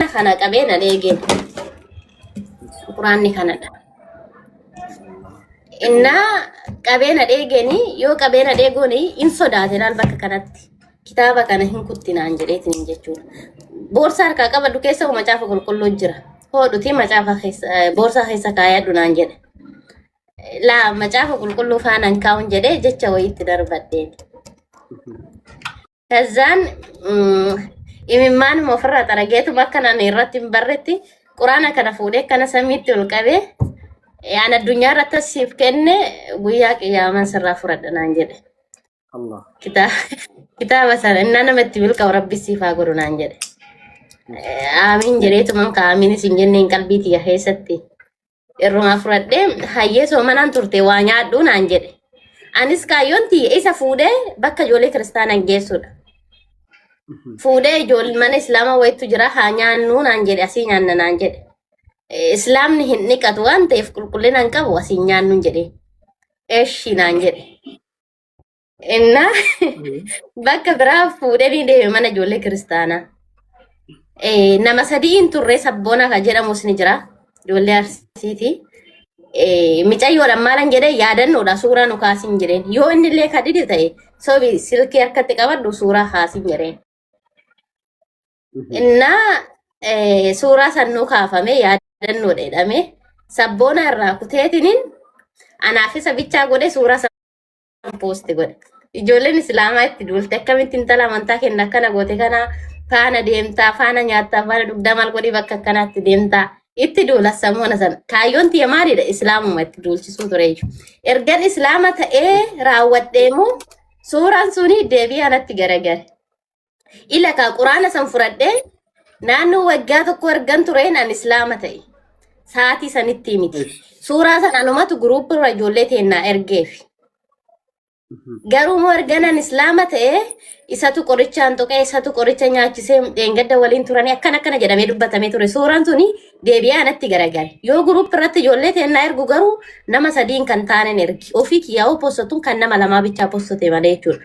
Quraana kana qabee nan eegeen. Quraanni kanadha. Innaa qabee na dheegeenii yoo qabee na dheegoonii in sodaate laal bakka kanatti. Kitaaba kana hin kuttinaan jedheetiin jechuudha. Boorsaa harkaa qabadhu keessa hoo macaafa qulqulluu jira. Hoodhutii macaafa keessa eh, boorsaa keessa kaayadhu naan jedhe. Laa macaafa qulqulluu faanaan kaa'uun jedhee jecha wayiitti darbadheen. Kazzaan imimmaanuma ofirraa xarageetuma akka naan irratti hin barretti quraana kana fuudhee kana samiitti ol qabee yaan addunyaa irratti as siif kenne guyyaa qiyyaaman sirraa fudhadha naan jedhe. Allah. Kitaaba kitaaba sana innaa nama itti milkaa'u rabbi siif haa godhu naan jedhe. Aamiin jedheetuman ka aamiinis hin jenneen qalbii tiyya keessatti. Irrumaa fudhadhee hayyee soomanaan turte waa nyaadhuu naan jedhe. Anis kaayyoon tiyya isa fuudhee bakka ijoollee kiristaanaan geessuudha. Fuudhee ijoollee mana islaamaa wayitu jira haa nyaannuu naan jedhe asii nyaanna naan jedhe. Eh, Islaamni hin dhiqatu waan ta'eef qulqullina hin qabu asii nyaannuun jedhe. Eshi naan jedhe. Innaa bakka biraa fuudhee ni deeme mana ijoollee kiristaanaa. Eh, Nama sadii hin turre sabboona kan jedhamus ni jira. Ijoollee arsiiti. Eh, Micayyoodhaan maalan jedhee yaadannoodha suuraa nu kaasin jedheen. Yoo inni illee kan dide ta'e sobi silkii harkatti qabadhu suuraa kaasin jedheen. Innaa eh, suuraa san nu kaafame yaadannoodha jedhame. Sabboona irraa kuteetiniin anaaf isa bichaa godhe suuraa san An poosti godha. Ijoolleen islaamaa itti duulte akkamitti intala amantaa kenna akkana goote kana faana deemtaa faana nyaattaa faana dhugdaa maal godhii bakka akkanaatti deemtaa itti duula samoona sana kaayyoon tiyya maalidha islaamuma itti duulchisuu ture iyyuu ergan islaama ta'ee raawwadheemu suuraan suni deebii anatti garagare Ila kaa quraana san fudhadhee naannoo waggaa tokko ergan tureen an islaama ta'e. Sa'aatii sanittii miti. Eesh. Suuraa san anumatu guruuppii irra ijoollee teennaa ergeefi. Garuu immoo erganan islaama ta'e isatu qorichaan tuqee isatu qoricha nyaachisee dheengadda waliin turanii akkana akkana jedhamee dubbatamee ture. Suuraan suni deebi'ee anatti garagale. Yoo guruuppii irratti ijoollee teennaa ergu garuu nama sadiin kan taanen ergi. Ofii kiyyaa hoo possatuun kan nama lamaa bichaa possate malee jechuudha.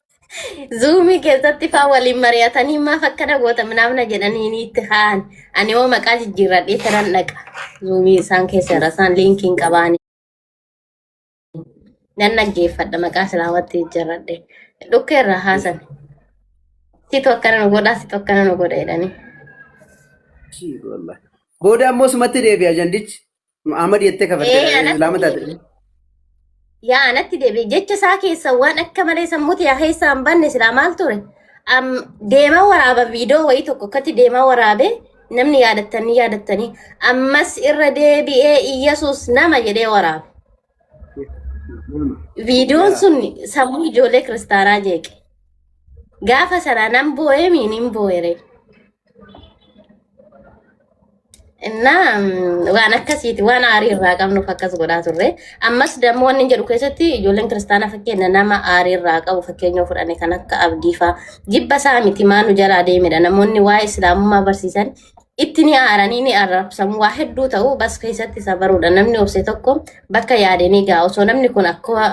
Zuumii keessatti faa waliin mari'atanii maaf akkana goota minaamna jedhanii ni itti ka'an. Ani hoo maqaa jijjiirradhee tanan dhaqa. Zuumii isaan keessa irra isaan liinkiin qabaani. Nan dhaggeeffadha maqaa islaamatti jijjiirradhee. Dhukkee irraa haasan. Situ akkana nu godhaa situ akkana nu godha jedhanii. Booda ammoo sumatti deebi'a jandichi. Muhammad jettee kafarte Ee, anatti islaama taate. deebi'e. Yaa anatti deebi'e. Jecha isaa keessa waan akka malee sammuuti yaa keessaa hin banne silaa maal ture? Am deemaa waraaba viidiyoo wayii tokko akkatti deemaa waraabe namni yaadattanii yaadattanii ammas irra deebi'ee Iyyasuus nama jedhee waraabe. Viidiyoon sun sammuu ijoollee kiristaanaa jeeqe. Gaafa sana nan boo'ee miin hin boo'ere. Innaa mm, waan akkasiiti waan aarii irraa qabnuuf akkas godhaa turre. Ammas dammoo wanni jedhu keessatti ijoolleen kiristaanaa fakkeenya nama aarii irraa qabu fakkeenya fudhane kan akka abdiifaa jibba isaa miti maa nu jalaa deemedha namoonni waa'ee islaamummaa barsiisan itti ni aaranii ni arrabsamu waa hedduu ta'u bas keessatti isa baruudha namni obse tokko bakka yaade ni ga'a osoo namni kun akka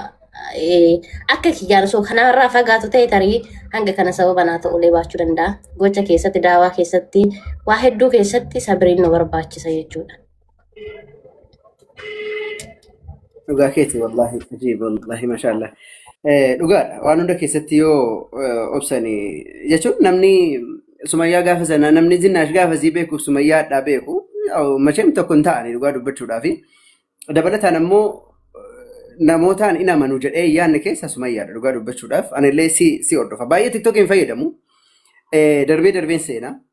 eh, akka kiyyaan osoo kanarraa fagaatu ta'e tarii hanga kana sababa naa ta'ulee baachuu danda'a gocha keessatti daawaa keessatti waa hedduu keessatti sabiriin nu barbaachisa jechuudha. Dhugaa keeti wallaahi ajiib wallaahi mashaallah. Eh, Dhugaadha waan hunda keessatti yoo eh, obsani jechuun namni sumayyaa gaafa sana namni zinnaash gaafa sii beeku sumayyaa addaa beeku yaa'u masheen tokko hin ta'ani dhugaa dubbachuudhaa fi dabalataan ammoo namootaan in amanu jedhee yaanne keessa sumayyaadha dhugaa dubbachuudhaaf anillee si si hordofa baay'ee tiktokiin fayyadamu eh, darbee darbeen seena.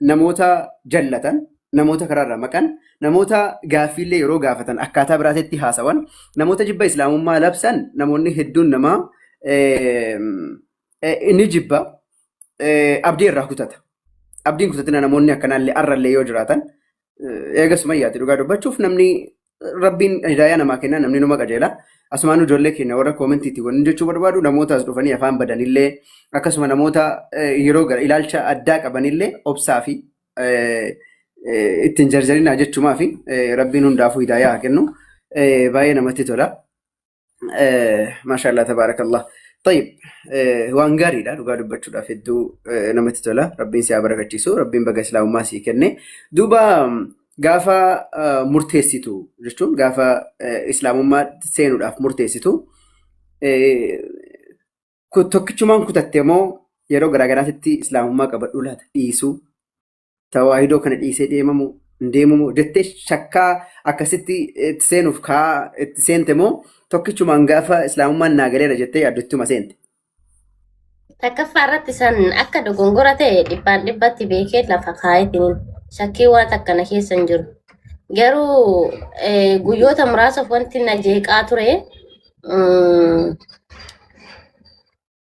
namoota jallatan, namoota karaarraa maqan, namoota gaaffiillee yeroo gaafatan akkaataa biraatetti haasawan, namoota jibba islaamummaa labsan namoonni hedduun namaa eh, eh, inni jibba eh, abdii irraa kutata. Abdiin kutatina namoonni akkanaallee arrallee yoo jiraatan eh, eega sumayyaati dhugaa dubbachuuf namni Rabbiin hidaayaa namaa kenna namni numa qajeela. Asumaan ijoollee keenya warra koomentiitti wanni jechuu barbaadu namoota as dhufanii afaan badanillee akkasuma namoota eh, yeroo gara ilaalcha addaa qabanillee obsaa fi eh, eh, ittiin jarjarinaa jechumaa fi eh, rabbiin hundaafuu hidaayaa haa kennu. Eh, Baay'ee namatti tola. Maashaallah tabaarakallah. Tayyib waan gaariidha dhugaa dubbachuudhaaf hedduu namatti tola. Rabbiin si haa barakachiisu. Rabbiin baga islaamummaa sii kenne. Duuba gaafa murteessitu jechuun gaafa islaamummaa seenuudhaaf murteessitu tokkichumaan kutatte moo yeroo garaagaraatti islaamummaa qabadhuu laata dhiisuu tawaahidoo kana dhiisee deemamu hin deemamu jettee shakkaa akkasitti itti seenuuf kaa itti seente moo tokkichumaan gaafa islaamummaan naa galeera jettee yaaddottuma seente. Takkaffaa irratti san akka dogongora ta'e dhibbaan dhibbatti beekee lafa kaa'eetiin shakkii waan takka na keessa hin jiru. Garuu eh, guyyoota muraasaaf wanti na jeeqaa ture mm,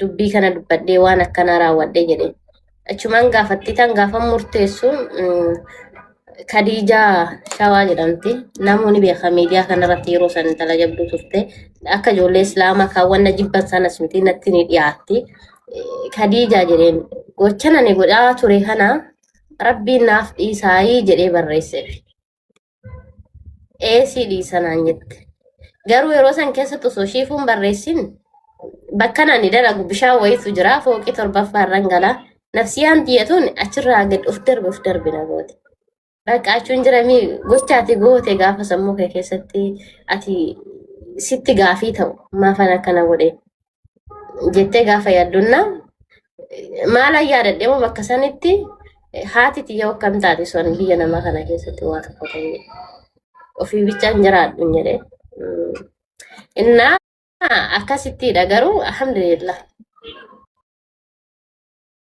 dubbii kana dubbadhee waan akkanaa raawwadhe jedhe. Achumaan gaafattiitaan gaafa murteessu mm, Kadiijaa Shawaa jedhamti. Namoonni beekan miidiyaa kanarratti yeroo san intala jabduu turte. Akka ijoollee Islaamaa kan wanna jibban sanas miti natti ni dhiyaatti. Eh, Kadiijaa jedheen gocha nani godhaa ture kana rabbiin naaf dhiisaayii jedhee barreesseef. eesii dhiisa naan jette. Garuu yeroo san keessatti osoo shiifuun barreessin bakka nani dalagu bishaan wayitu jira fooqii torbaffaa irran gala. Nafsiyaan tiyyatuun achirraa gad of darbe of darbe na goote. Bakka achuun jira mii gocha ati goote gaafa sammuu kee keessatti ati sitti gaafii ta'u maafan akkana godhe. jettee gaafa yaaddunna maalan yaadadhe moo bakka sanitti eh, haati tiyya akkam taate son biyya namaa kana keessatti waa tokko ta'e ofii bichaan jiraadhu hin jedhe. Mm. Innaa akkasittiidha garuu alhamdulillah.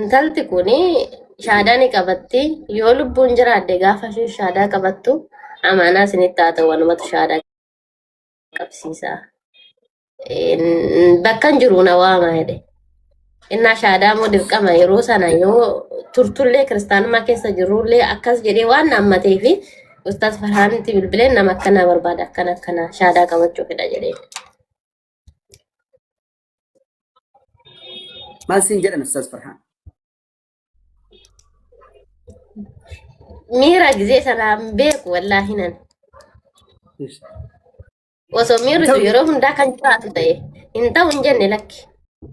Intalti kun shaadaa ni qabatti. Yoo lubbuun jiraadde gaafa isheen shaadaa qabattu amaanaa isinitti haa ta'u anumatu shaadaa qabsiisa. Een, Bakkan jiru na waama jedhe. Innaa shaadaa immoo dirqama yeroo sana yoo turtullee kiristaanummaa keessa jirullee akkas jedhee waan naammatee fi ustaas Farhaanitti bilbileen nama akkanaa barbaada akkana akkana shaadaa qabachuu fedha jedhee. Maal siin jedhan Ustaaz Farhaan? Miira gisee sanaan beeku wallaahi nan. Osoo miirri sun yeroo hundaa kan jiraatu ta'e hin ta'u hin jenne lakki.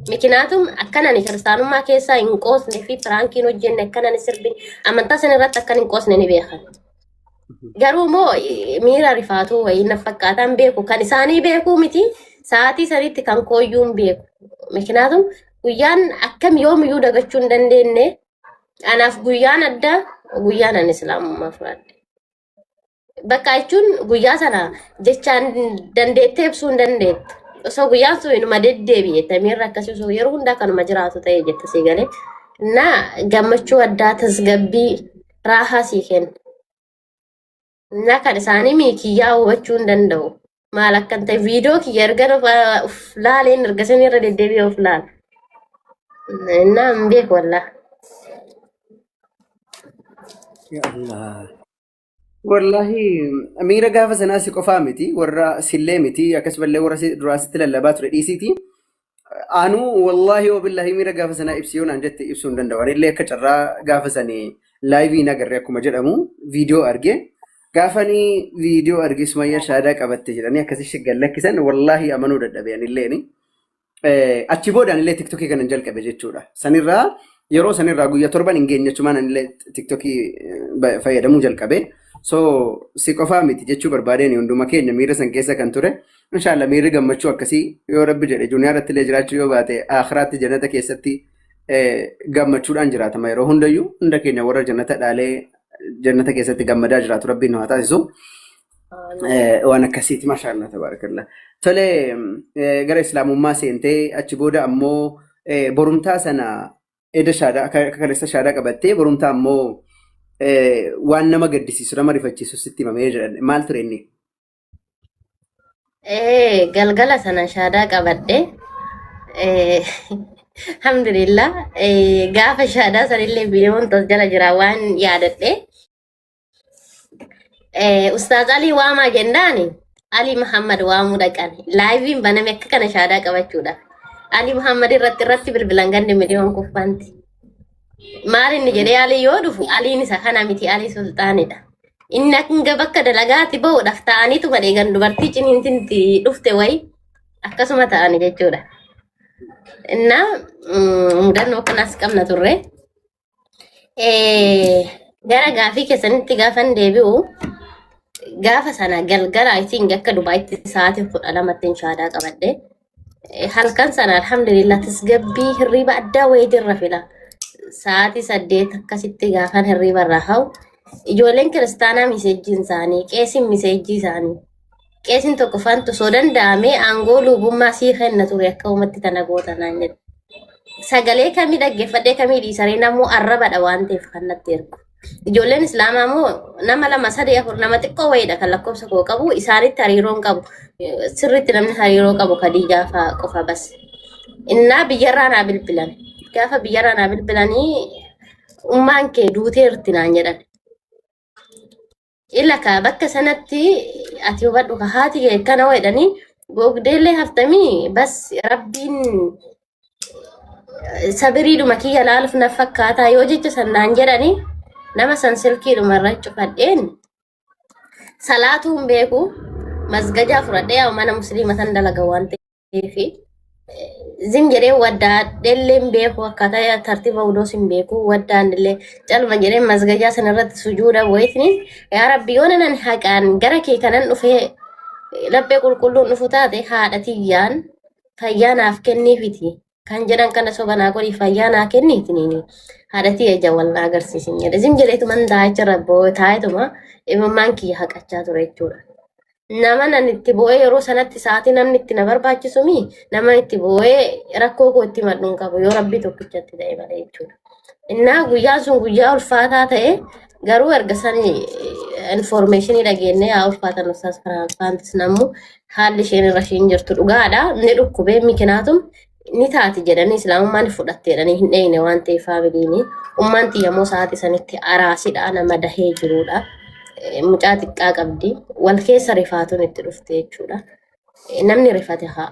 Mikinaatum akkanan kiristaanummaa keessaa hin qoosne fi piraankiin hojjenne akkanan sirbin amantaa san irratti akkan hin qoosne ni beekan. Garuu immoo eh, miira rifaatuu wayii na fakkaataan beeku. Kan isaanii beekuu miti. Sa'aatii sanitti kan kooyyuu hin beeku. Miknaatum guyyaan akkam yoomiyyuu dagachuu hin dandeenye. Anaaf guyyaan addaa guyyaan ani islaamummaa fudhadhe. Bakka jechuun guyyaa sana jechaan dandeettee ibsuu hin dandeettu. Osoo guyyaan sun inuma deddeebi'e tamiirra akkasii osoo yeroo hundaa kanuma jiraatu ta'e jette sii galee. Na gammachuu addaa tasgabbii raahaa sii kenna. Innaa kan isaanii miikiyyaa hubachuu hin danda'u. Maal akkan ta'e viidiyoo kiyya ergan of of laaleen erga isin irra deddeebi'ee of laala. Innaa hin beeku wallaa. Ya Allah. Wallahi miira gaafa sanaa si qofaa miti warra sillee miti akkasumallee warra si duraa sitti lallabaa ture dhiisiiti Anu wallahi wabillahi miira gaafa sanaa ibsi yoo naan jette ibsuu hin danda'u. Ani illee akka carraa gaafa sanii laayivii hin agarre akkuma jedhamu viidiyoo arge. Gaafa ani viidiyoo arge sumayyaa shaadaa qabatte jedhanii akkasii shaggan lakkisan wallahi amanuu dadhabe ani illee ni. Eh, achi booda anillee tiktokii kanan jalqabe jechuudha. Sanirraa yeroo sanirraa guyyaa torban hin geenye jechumaan anillee tiktokii eh, ba- fayyadamuu jalqabe. So si qofaa miti jechuu barbaadeen hunduma keenya miira san keessa kan ture. Inshaallah miirri gammachuu akkasii yoo rabbi jedhe duniyaa irratti illee jiraachuu yoo baate akhiraatti jannata keessatti eh, gammachuudhaan jiraatama yeroo hundayyuu hunda keenya warra jannata dhaalee jannata keessatti gammadaa jiraatu rabbiin nu haa taasisu. Eh, waan akkasiiti mashaallah tabarakallah tole eh, gara islaamummaa seentee achi booda ammoo eh, borumtaa sana eda shaadaa akka akka kaleessa shaadaa qabattee borumtaa ammoo eh, waan nama gaddisiisu nama rifachiisu sitti himamee jedhan maal ture inni Ee, galgala sana shaadaa qabadhe. Ee, Alhamdulillah. Ee, Gaafa shaadaa sanillee biiroon tas jala jira waan yaadadhe. Ee, Ustaaz Alii waamaa jennaani. Alii Muhammad waamuu dhaqan. Laayiviin baname akka kana shaadaa qabachuudha. Alii Muhammad irratti irratti bilbilan ganni miliyoon kuffanti. maal inni jedhee alii yoo dhufu aliin isa kana miti alii sulxaanidha. Inni hanga bakka dalagaatti bahuudhaaf ta'aniitu badhee gan dubartii ciniintinti dhufte wayi akkasuma ta'ani jechuudha. Innaa mm, mudannoo kanas qabna turre. Eh, Gara gaafii keessanitti gaafan deebi'u gaafa sana galgala isiin akka Dubaayitti sa'aatii kudha lamatti inshaadaa qabadde. Eh, Halkan sana alhamdulillah tasgabbii hirriba addaa wayii jirra fila. Sa'aatii saddeet akkasitti gaafan hirriba irraa hau. Ijoolleen kiristaanaa miseejjiin isaanii, qeesiin miseejjii isaanii. Qeesiin tokko fantu osoo danda'amee aangoo lubummaa sii kenna ture akka uumatti tana goota naan jedhe. Sagalee kamii dhaggeeffadhee kamii dhiisaree namuu arrabadha waan ta'eef kan natti ergu. Ijoolleen Islaamaa immoo nama lama sadii afur nama xiqqoo wayiidha kan lakkoofsa koo qabu isaanitti hariiroon qabu sirriitti namni hariiroo qabu Khadiijaa fa'aa qofa bas. Innaa biyyarraa naa bilbilan gaafa biyyarraa naa bilbilanii ummaan kee duuteerti naan jedhan. Ila ka bakka sanatti ati hubadhu ka haati kee akkana jedhanii googdeellee haftamii bas rabbiin sabiriidhuma kiyya laaluuf na fakkaataa yoo jecha sannaan jedhanii nama san silkiidhuma irra cufadheen salaatuun beeku masgajaa fudhadhee yaa mana musliima san dalaga waan ta'eef. fi zim jedhee waddaa dhellee hin beeku akkaataa tartiiba wuduus hin beeku waddaan illee calma jedhee masgajaa sana irratti sujuuda wayitni yaa rabbi yoo nanan haqaan gara kee kanan dhufee laphee qulqulluun dhufu taate haadha tiyyaan fayyaa naaf kenniifiti kan jedhan kana soba naa godhi fayyaa naa kenni itiniini haadhatii ija wal naa agarsiisin jedhe zim jedheetuman taa'icharra boo'e taa'etuma imimmaan kiyya haqachaa ture jechuudha. Nama nan itti boo'ee yeroo sanatti sa'aatii namni itti na barbaachisumi nama itti boo'ee rakkoo koo itti madhuun qabu yoo rabbii tokkichatti ta'e malee jechuudha. Innaa guyyaan sun guyyaa ulfaataa ta'e garuu erga sani informeeshinii dhageenyee haa ulfaatan ustaas Firaansis nammu haalli isheen irra isheen jirtu dhugaadha. Ni dhukkubee mikinaatum ni taati jedhanii islaamummaan fudhatte jedhanii hin dheeyne waan ta'eef faamiliini. Ummaan tiyyamoo sa'aatii sanitti araasidha nama dahee jirudha. Eh, Mucaa xiqqaa qabdi. Wal keessa rifaatuun itti dhufte jechuudha. Eh, Namni rifate haa.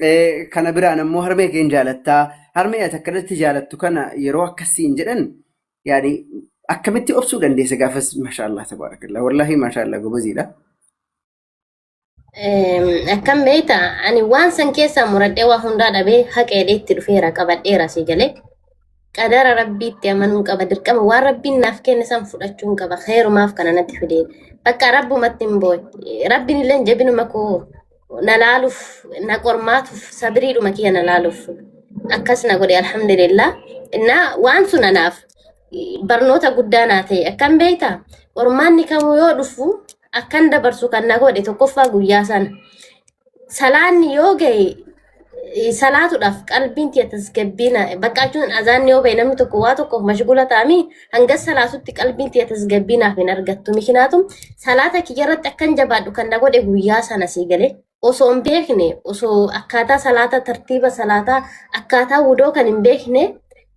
Eh, Kana biraan ammoo harmee keen jaalattaa. Harmee ati akka irratti jaalattu kana yeroo akkasiin jedhan yaani akkamitti obsuu dandeessa gaafas mashaallah tabaarakallah wallahi mashaallah gobaziidha. Eem, Akkam beekta ani waan san keessaa muradhee waa hundaa dhabee haqeedhee itti dhufeera qabadheera si galee. qadara rabbiitti amanuun qaba dirqama waan rabbiin naaf kenne san fudhachuun qaba keerumaaf kana natti fide bakka rabbumatti hin booy rabbiin illee jabinuma koo na laaluuf na qormaatuuf sabiriidhuma kiyya na laaluuf akkas na godhe alhamdulillah innaa waan sun anaaf barnoota guddaa naa ta'e akkam beekta qormaanni kamuu yoo dhufu akkan dabarsu kan na godhe tokkoffaa guyyaa sana salaanni yoo ga'e eh, salaatuudhaaf qalbiin tiyya tasgabbiina bakka jechuun azaanni yoo ba'e namni tokko waa tokkoof mashgula ta'anii hanga salaatutti qalbiin tiyya tasgabbiinaaf hin argattu mikinaatum salaata kiyya irratti akkan jabaadhu kan na godhe guyyaa sana sii galee osoo hin beekne osoo akkaataa salaataa tartiiba salaataa akkaataa wudoo kan hin beekne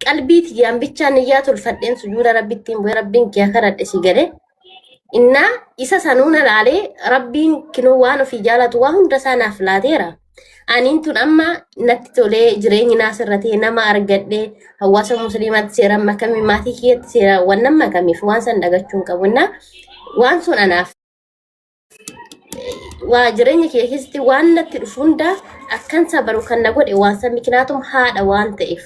qalbii tiyyaan bichaan niyyaa tolfadheen sujuuda rabbittiin bu'ee rabbiin kiyya karadhe sii galee Innaa isa sanuu na laalee rabbiin kinoo waan ofii jaalatu waa hunda isaa naaf laateera. Aniin tun amma natti tolee jireenyi naas irra ta'e nama argadhee hawaasa musliimaatti seeraan makamee maatii kiyyatti seeraan waan nama makamiif waan san dhagachuun qabu. Innaa waan sun anaaf waa jireenya kee keessatti waan natti dhufu hundaa akkan sabaru kan na godhe waan san mikinaatum haadha waan ta'eef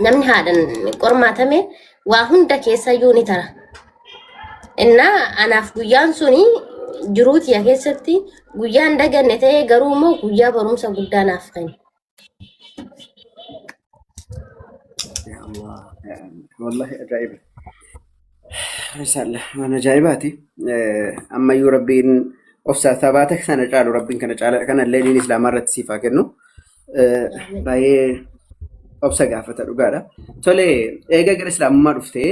namni haadhan qormaatame waa hunda keessa iyyuu ni tara. Innaa anaaf guyyaan suni jiruu kiyya keessatti guyyaan daganne ta'ee garuu immoo guyyaa barumsa guddaa naaf kenna. Yaa Allah, yaa Allah. Wallahi ajaa'iba. Risaallah waan ajaa'ibaati. Eh, Ammayyuu rabbiin obsa sabaata sana caalu rabbiin kana caala kana illee diin islaamaa irratti siif haa kennu. Eh, Baay'ee obsa gaafata dhugaadha. Tole eega gara islaamummaa dhuftee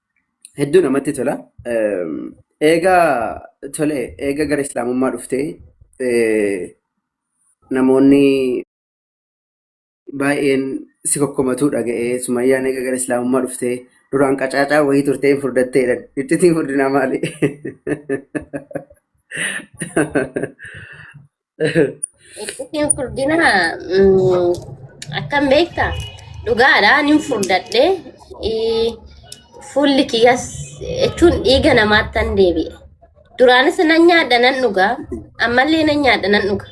Hedduu namatti tola. Eega tole eega gara islaamummaa dhuftee namoonni baay'een si kokkomatuu dhaga'ee sumayyaan eega gara islaamummaa dhuftee duraan qacaacaa wayii turtee hin furdattee jedhan. Ittitiin furdinaa maali? Ittiin furdina mm, akkam beekta dhugaadha nin furdadhe Eh, fuulli kiyyas jechuun dhiiga namaattan deebi'e duraanis nan nyaadha nan dhuga ammallee nan nyaadha nan dhuga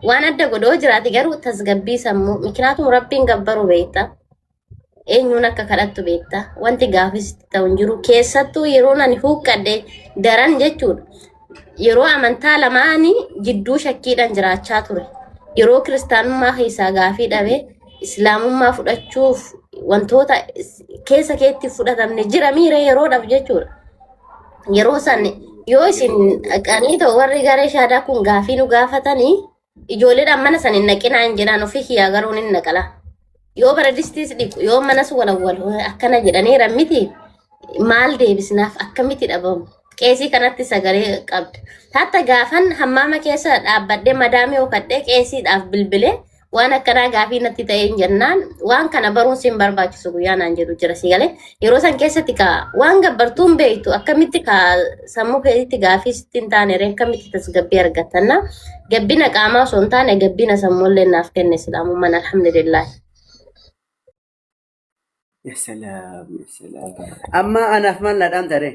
waan adda godhoo jiraate garuu tasgabbii sammuu mikinaatu rabbiin gabbaru beekta eenyuun akka kadhattu beekta wanti gaafis itti ta'u hin jiru keessattuu yeroo ani huuqqadhe daran jechuudha yeroo amantaa lamaanii jidduu shakkiidhaan jiraachaa ture yeroo kiristaanummaa keessaa gaafii dhabe islaamummaa fudhachuuf wantoota is- keessa keetti fudhatamne jira miira yeroo dhabu jechuudha yeroo san yoo isin dhaqanii ta'u warri garee shaadaa kun gaafii nu gaafatanii Ijoolleedhaan mana san hin naqinaa hin jedhaan ofii kiyyaa garuu hin naqala. Yoo bara distiis dhiqu yoo manas walawwal akkana jedhanii rammiti maal deebisnaaf akkamitti dhabamu. Qeesii kanatti sagalee qabda. Hatta gaafan hammaama keessa dhaabbadhee madaamii hokadhee qeesiidhaaf bilbilee waan akkanaa gaafii natti ta'een jennaan waan kana baruun sin barbaachisu guyyaa naan jedhu jira si galee Yeroo san keessatti ka waan gabbartuu hin beektu akkamitti ka sammuu keetitti gaafii sitti hin taane ree akkamitti tasgabbii argattanna gabbina qaamaa osoo hin taane gabbina sammuu illee naaf kenne islaamummaan alhamdulillah. Ya salaam, ya salaam. Amma anaaf maal na dhaamta ree?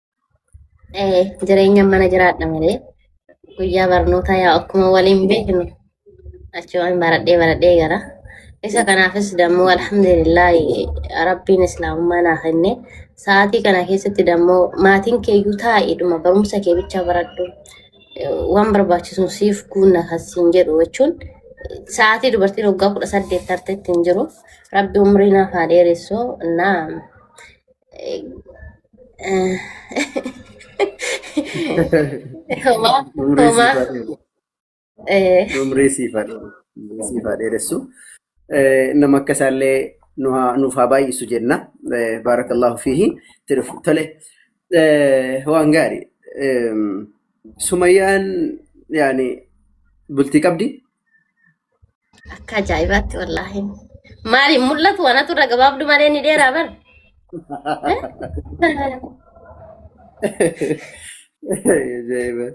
Eh, jireenya mana jiraadha malee guyyaa barnootaa yaa akkuma waliin beeknu achumaan baradhee baradhee gara. Isa kanaafis dammoo alhamdulillah rabbiin islaamummaa naa kenne sa'aatii kana keessatti dammoo maatiin keeyyuu taa'eedhuma barumsa kee bicha baradhu eh, waan barbaachisuun siif guunna kan siin jedhu jechuun sa'aatii dubartiin waggaa kudha saddeet tarteetti hin jiru rabbi umrii naaf haa dheeressu naa Homaa Umrii siif homaa haa dheeressu. eh, Umrii siif haa dheeressu. Umrii siif haa dheeressu. Eh, Nama akka isaallee nu haa- nuuf haa baay'isu jenna. Eh, Baarakallaahu fiihi. Itti dhufu. Tole. Eh, Waan gaarii. Em, Sumayyaan yaani bultii qabdi. Akka ajaa'ibaatti wallaahi. Maali mul'atu wanatu irra gabaabdu malee ni dheeraa bar. Ajaa'iba.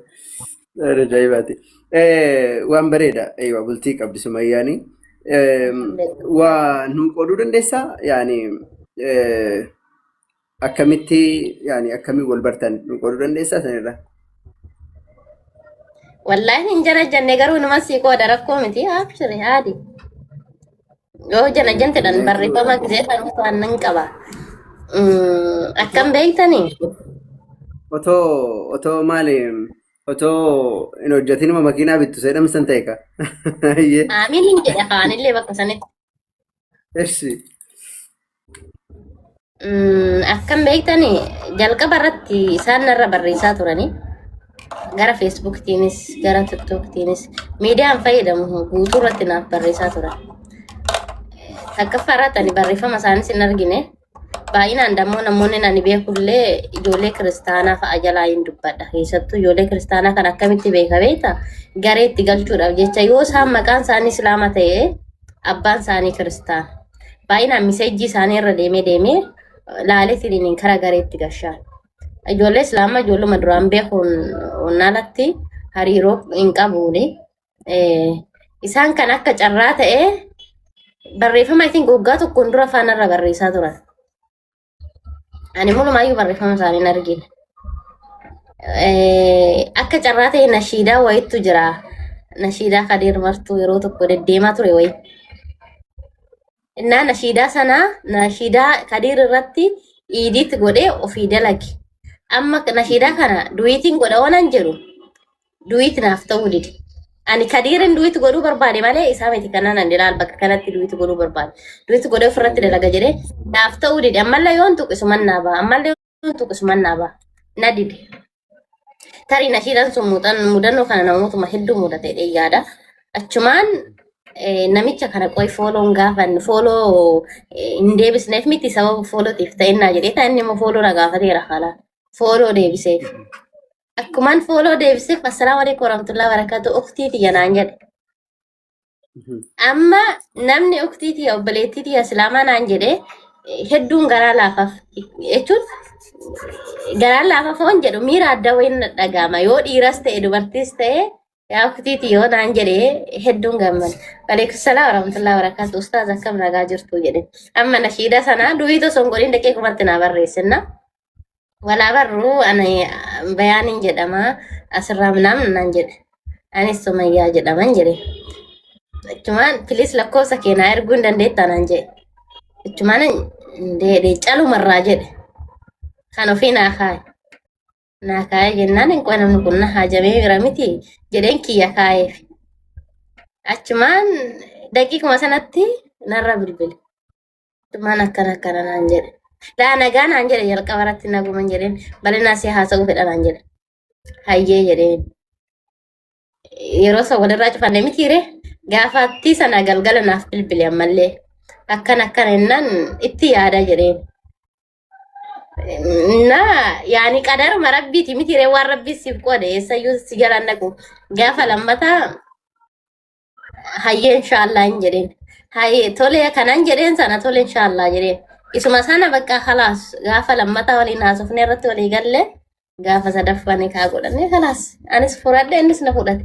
Waan ajaa'ibaati. Eh, Waan bareeda. Eeywa bultii qabdi sumayyaani. Eh, Waa nuu qooduu dandeessaa? Yaani eh, Akkamitti yaani akkamiin wal bartan nu qooduu dandeessaa sanirra? Wallaahi hin jara jenne garuu nama sii qooda rakkoo miti abshiri haadi. Yoo jala jentedhan barreeffama gisee kan waan nan qaba. Mm, Akkam beektanii? Otoo otoo maali otoo hin hojjetinuma makiinaa bittu seedhamsan ta'e ka. Aamiin hin jedhe afaanillee bakka sanitti. Essi. Mm, Akkam beektani jalqaba irratti isaan narra barreessaa turanii gara feesbuuktiinis gara tiktooktiinis miidiyaan fayyadamu guutuu irratti naaf barreessaa turan. Takkaffaa irratti ani barreeffama isaaniis hin argine Baay'inaan dammoo namoonni ani beekullee ijoollee kiristaanaa fa'a jalaa hin dubbadha. Keessattuu ijoollee kiristaanaa kan akkamitti beeka beekta garee itti galchuudhaaf jecha yoo isaan maqaan isaanii islaama ta'e abbaan isaanii kiristaana. Baay'inaan miseejjii isaanii irra deemee deemee laaleetiin karaa garee itti gashaan. Ijoollee islaamaa ijoolluma duraan beekuun onnaalatti hariiroo hin qabuuni. Eh, isaan kan akka carraa ta'e barreeffama isin goggaa tokkoon dura faanarra barreessaa turan. Ani mulumaayyuu barreeffama isaanii hin argine. Eh, akka carraa ta'e nashiidaa wayiitu jira. Nashiidaa Kadir Martuu yeroo tokko deddeemaa ture wayi. Innaa nashiidaa sanaa nashiidaa Kadir irratti iidiit godhee ofii dalage. Amma nashiidaa kana duwiitiin godha oonan jedhu duwit naaf ta'uu dide. Ani kadiirin duwit godhuu barbaade malee isaa miti kanaan ani ilaal bakka kanatti duwit godhuu barbaade. Duwit godhee ofirratti dalaga jedhee naaf ta'uu dide. Ammallee yoon tuqisu mannaa ba'a. Ammallee yoon tuqisu mannaa ba'a. Na dide. Tarii nashiidhaan sun muuxan- mudannoo kana namootuma hedduu mudate jedhee yaada. Achumaan eh, namicha kana qoy fooloon gaafan fooloo eh, hin deebisneef miti sababa foolootiif ta'innaa jedhee ta'e inni immoo fooloo na gaafateera haala. Fooloo deebiseef. Akkumaan fooloo deebisif assalaamu alaikum warahmatullahi wabarakatuh uktii tiyya naan jedhe. Amma namni uktii tiyya obboleettii tiyya islaamaa naan jedhe eh, hedduun garaa laafaaf jechuun garaa laafaaf hoon jedhu miira adda wayiin na dhaga'ama yoo dhiiras ta'e dubartiis ta'e Yaa uktiiti yoo naan jedhe hedduun gammada. Waleekusalaa warahmatullahi wabarakaatu ustaaz akkam nagaa jirtu jedhe. Amma nashiida sanaa duwii osoo hin godhin daqee kumatti naa barreessinna. Walaa barruu ani bayaaniin jedhama asirraa minaan naan jedhe. Anis sumayyaa jedhaman jedhe. Achumaan pilis lakkoofsa keenaa erguu hin dandeettaa naan jedhe. Achumaan deedee calumarraa jedhe. Kan ofii naa kaaye. naa kaa'ee jennaan inqoe namni kun na haajamee jira miti jedheen kiyya kaa'eef. Achumaan daqiiquma sanatti narra bilbile. Achumaan akkana akkana naan jedhe. Laa nagaa naan jedhe jalqaba irratti naguman jedheen balinaa si haasa'uu fedha naan jedhe. Hayyee jedheen. Yeroo san walirraa cufanne mitiire gaafattii sana galgala naaf bilbile ammallee. Akkana akkana jennaan itti yaada jedheen. Na yaani qadaruma rabbiiti miti ree waan rabbi siif qoode eessayyuu si jala hin dhaqu. Gaafa lammataa hayyee inshaallah hin jedheen. Hayyee tole kanan jedheen sana tole inshaallah jedheen. Isuma sana bakka kalaas gaafa lammataa waliin haasofnee irratti walii galle gaafa sadaffaa ni kaa godhannee kalaas. Anis fudhadhe innis na fudhate.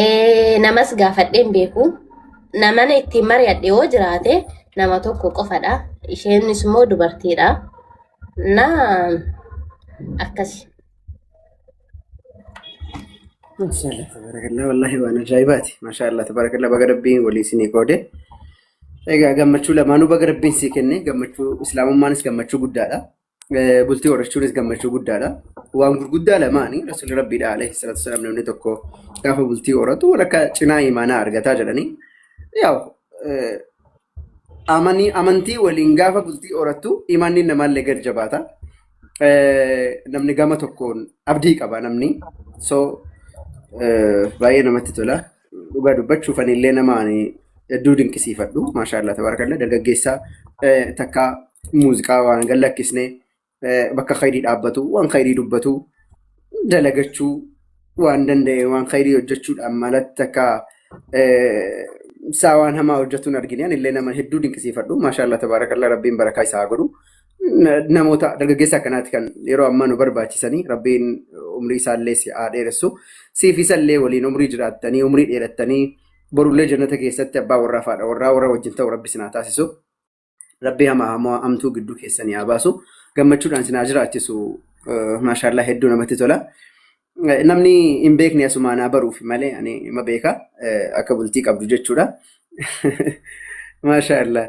Eh, namas gaafadheen beeku namana ittiin mari'adhe yoo jiraate nama tokko qofadha isheenis immoo dubartiidha na akkasi Maashaallah tabarakallah wallahi waan ajaa'ibaati. Maashaallah tabarakallah baga rabbiin walii isinii qoode. Egaa gammachuu lamaanuu baga rabbiin sii kenne gammachuu islaamummaanis gammachuu guddaadha. Eh, Bultii horachuunis gammachuu guddaadha. Waan gurguddaa lamaani Rasuulli Rabbiidha alayhi salaatu wasalaam namni tokko gaafa bultii horatu walakkaa cinaa imaanaa argataa jedhanii yaa'u eh, amanii amantii waliin gaafa bultii horattu imaanni namaallee gad jabaata. Eh, Namni gama tokkoon abdii qaba namni. So eh, baay'ee namatti tola. Dhugaa dubbachuuf ani illee nama ani hedduu dinqisiifadhu. Maashaallah tabarakallah dargaggeessaa eh, takka muuziqaa waan gad lakkisne eh, bakka khayrii dhaabbatu waan khayrii dubbatu dalagachuu waan danda'e waan khayrii hojjechuudhaan malatti takka eh, isaa waan hamaa hojjetuun argine ani illee nama hedduu dinqisiifadhu. Maashaallah tabarakallah rabbiin barakaa isaa haa godhu. na- namoota dargaggeessa akkanaati kan yeroo ammaa nu barbaachisanii rabbiin umrii isaallee si haa dheeressu siif isallee waliin umrii jiraattanii umrii dheerattanii borullee jannata keessatti abbaa warraa faadha warraa warra wajjin ta'u rabbi sinaa taasisu rabbi hamaa hamaa amtuu gidduu keessanii haa baasu gammachuudhaan sinaa jiraachisu maashaallaa hedduu namatti tola. Namni hin beekne asumaa naa baruuf malee ani ima beeka akka bultii qabdu jechuudha. Maashaa Allah.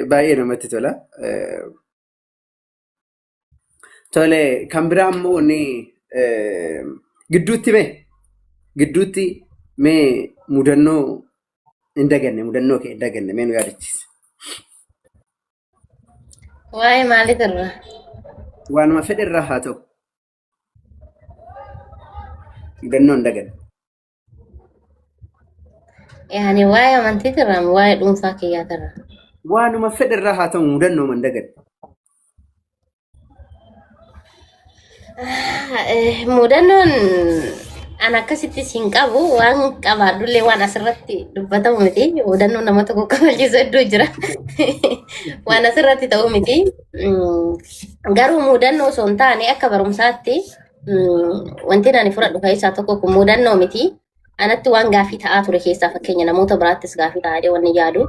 Baay'ee namatti tola. Tole kan biraa immoo wanni gidduutti mee gidduutti mee mudannoo hin daganne mudannoo kee hin daganne mee nu yaadachiisa. Waa'ee maalii turre? Waanuma fedhe irraa haa ta'u. Gannoo hin daganne. Yaani waa'ee amantii irraa waa'ee dhuunfaa kiyyaa irraa. Waanuma fedhe irraa haa ta'u mudannoo hin daganne. Mudannoon an akkasitti siin qabu waan qabaadhullee waan asirratti dubbatamu miti. Mudannoon nama tokko kabachiisu hedduu jira. Waan asirratti ta'u miti. Garuu mudannoo osoo hin taane akka barumsaatti wanti ani fudhadhu keessaa tokko kun mudannoo miti. Anatti waan gaaffii ta'aa ture keessaa fakkeenya namoota biraattis gaaffii ta'aa jedhee wanni yaadu.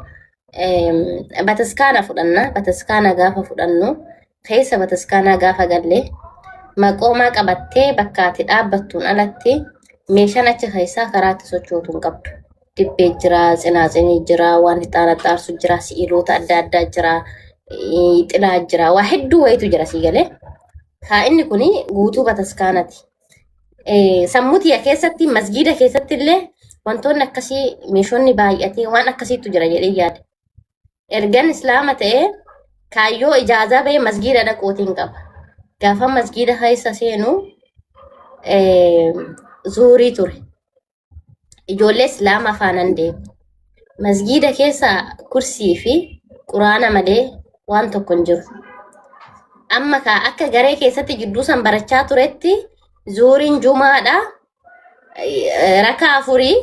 Bataskaana fudhanna. Bataskaana gaafa fudhannu keessa bataskaanaa gaafa galle maqoomaa qabattee bakka ati dhaabbattuun alatti meeshaan achi keessaa karaa itti sochootu hin qabdu. dibbee jira, tsinaatsini jira, waan ixaana xaarsu jira, si'iloota adda addaa jira, eh, xilaa jira, waa hedduu wayitu jira sii galee. Haa inni kun guutuu bataskaanati. Eh, Sammuu tiyya keessatti masgiida keessatti illee wantoonni akkasii meeshonni baay'atee waan akkasiitu jira jedhee yaada. Ergan islaama ta'ee kaayyoo ijaazaa ba'ee masgiida dhaquutiin qaba. Gaafa masgiida keessa seenu eh, zuurii ture. ijoollee islaamaa faanan deema. Masgiida keessa kursii fi quraana malee waan tokko hin jiru. Amma kaa akka garee keessatti jidduu san barachaa turetti zuuriin jumaadha eh, rakaa afurii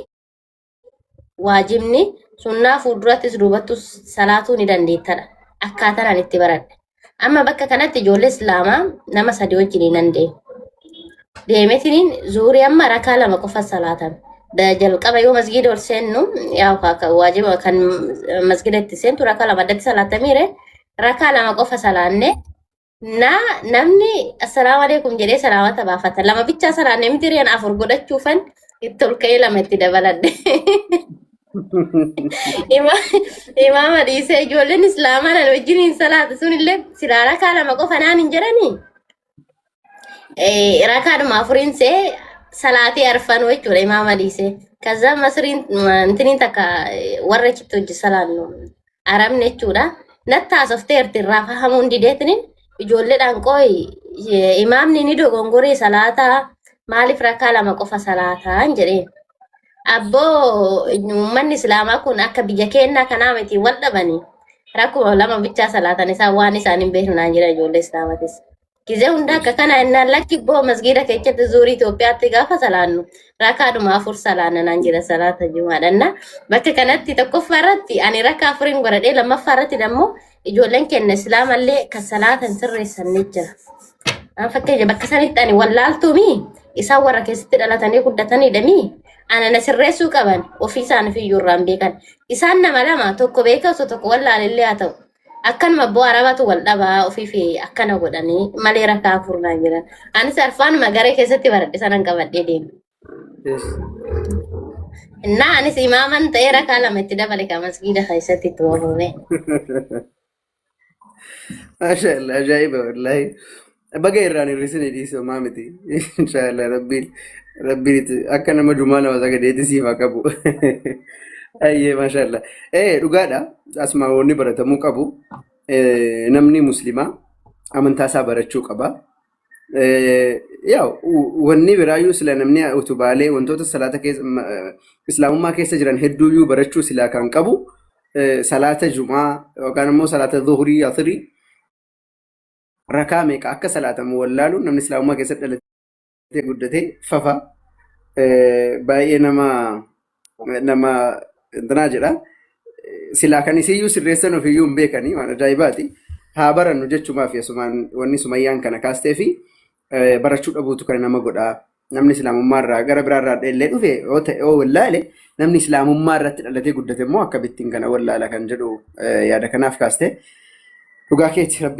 waajibni sunnaa fuuldurattis duubattus salaatuu ni dandeettadha. Akkaataan ani itti baradhe. Amma bakka kanatti ijoollee Islaamaa nama sadii wajjin nan deema. Deemetiniin zuurii amma rakaa lama qofa salaatan. Da- Jalqaba yoo masgiida ol seennu yaa ka- ka- waajiba kan masgiida itti seentu rakaa lama addatti salaatamiire rakaa lama qofa salaanne na namni assalaamu alaikum jedhee salaamata baafata lama bichaa salaanne miti reen afur godhachuufan itti ol ka'ee lama itti dabaladhe. Ima- Imaama dhiisee ijoolleen islaamaa nan wajjin hin salaatu sunillee silaa rakaa lama qofa naan hin jedhanii Eh, rakaadhuma afuriin see salaatee arfanuu jechuudha imaama dhiisee. Kaza masriin ma- intiniin takka eh, warra achitti hojii salaannu. arabni jechuudha. Natti haasofteerti irraa fahamuun dideetiniin ijoolleedhaan qooyi eh, imaamni ni dogongoree salaataa maaliif rakkaa lama qofa salaataan jedheen. Abboo uummanni islaamaa kun akka biyya keenyaa kanaa miti wal dhabanii rakkuma lama bichaa salaatan isaan waan isaan hin beeknu naan jedhan ijoollee islaamatis. Gizee hunda akka kana innaan lakki boo masgiida keessatti zuurii Itoophiyaatti gaafa salaannu rakaadhuma afur salaanna naan jedha salaata jumaadhanna. Bakka kanatti tokkoffaa irratti ani rakaa afuriin godhadhee lammaffaa irratti immoo ijoolleen keenya islaamallee kan salaata hin sirreessanne jira. An fakkeenya bakka sanitti ani wallaaltuumi isaan warra keessatti dhalatanii guddataniidhami. Ana na sirreessuu qaban ofii isaaniif iyyuu irraan beekan. Isaan nama lama tokko beekaa osoo tokko wallaalillee haa ta'u. akkanuma abboo arabatu wal dhabaa ofiifi akkana godhanii malee rakkaa furnaa jiran anis arfaanuma garee keessatti baradhe sanan qabadhee deema Yes. innaa anis imaaman ta'ee rakkaa lama itti dabale ka masgiida keessatti itti waamame Maasha Allah ajaa'iba wallaahi. Baga irraan hir'isine dhiisuu maa miti. Inshaallah rabbiin rabbiin itti akka nama dumaa nama sagadeetti siif haa qabu. Ayyee maashaallah. Ee dhugaadha asmaa'oonni baratamuu qabu. Ee, Namni muslimaa amantaa isaa barachuu qaba. Ee, Yaa u- wanni biraayyuu sila namni utubaalee wantoota salaata keessa ma- islaamummaa keessa jiran hedduuyyuu barachuu silaa kan qabu ee, salaata jumaa yookaan immoo salaata zuhurii asirii rakaa meeqa akka salaatamu wallaaluun namni islaamummaa keessatti dhalatee guddatee fafa eh, baay'ee nama nama intinaa jedha. Silaa kan isiyyuu sirreessan ofiyyuu hin beekanii waan ajaa'ibaati. Haa barannu jechumaaf yesumaan wanni sumayyaan kana kaastee fi eh, barachuu dhabuutu kan nama godhaa. Namni islaamummaa irraa gara biraa irraa dheellee dhufe yoo ta'e yoo wallaale namni islaamummaa irratti dhalatee guddate immoo akkamittiin kana wallaala kan jedhu eh, yaada kanaaf kaastee dhugaa keetti rabbi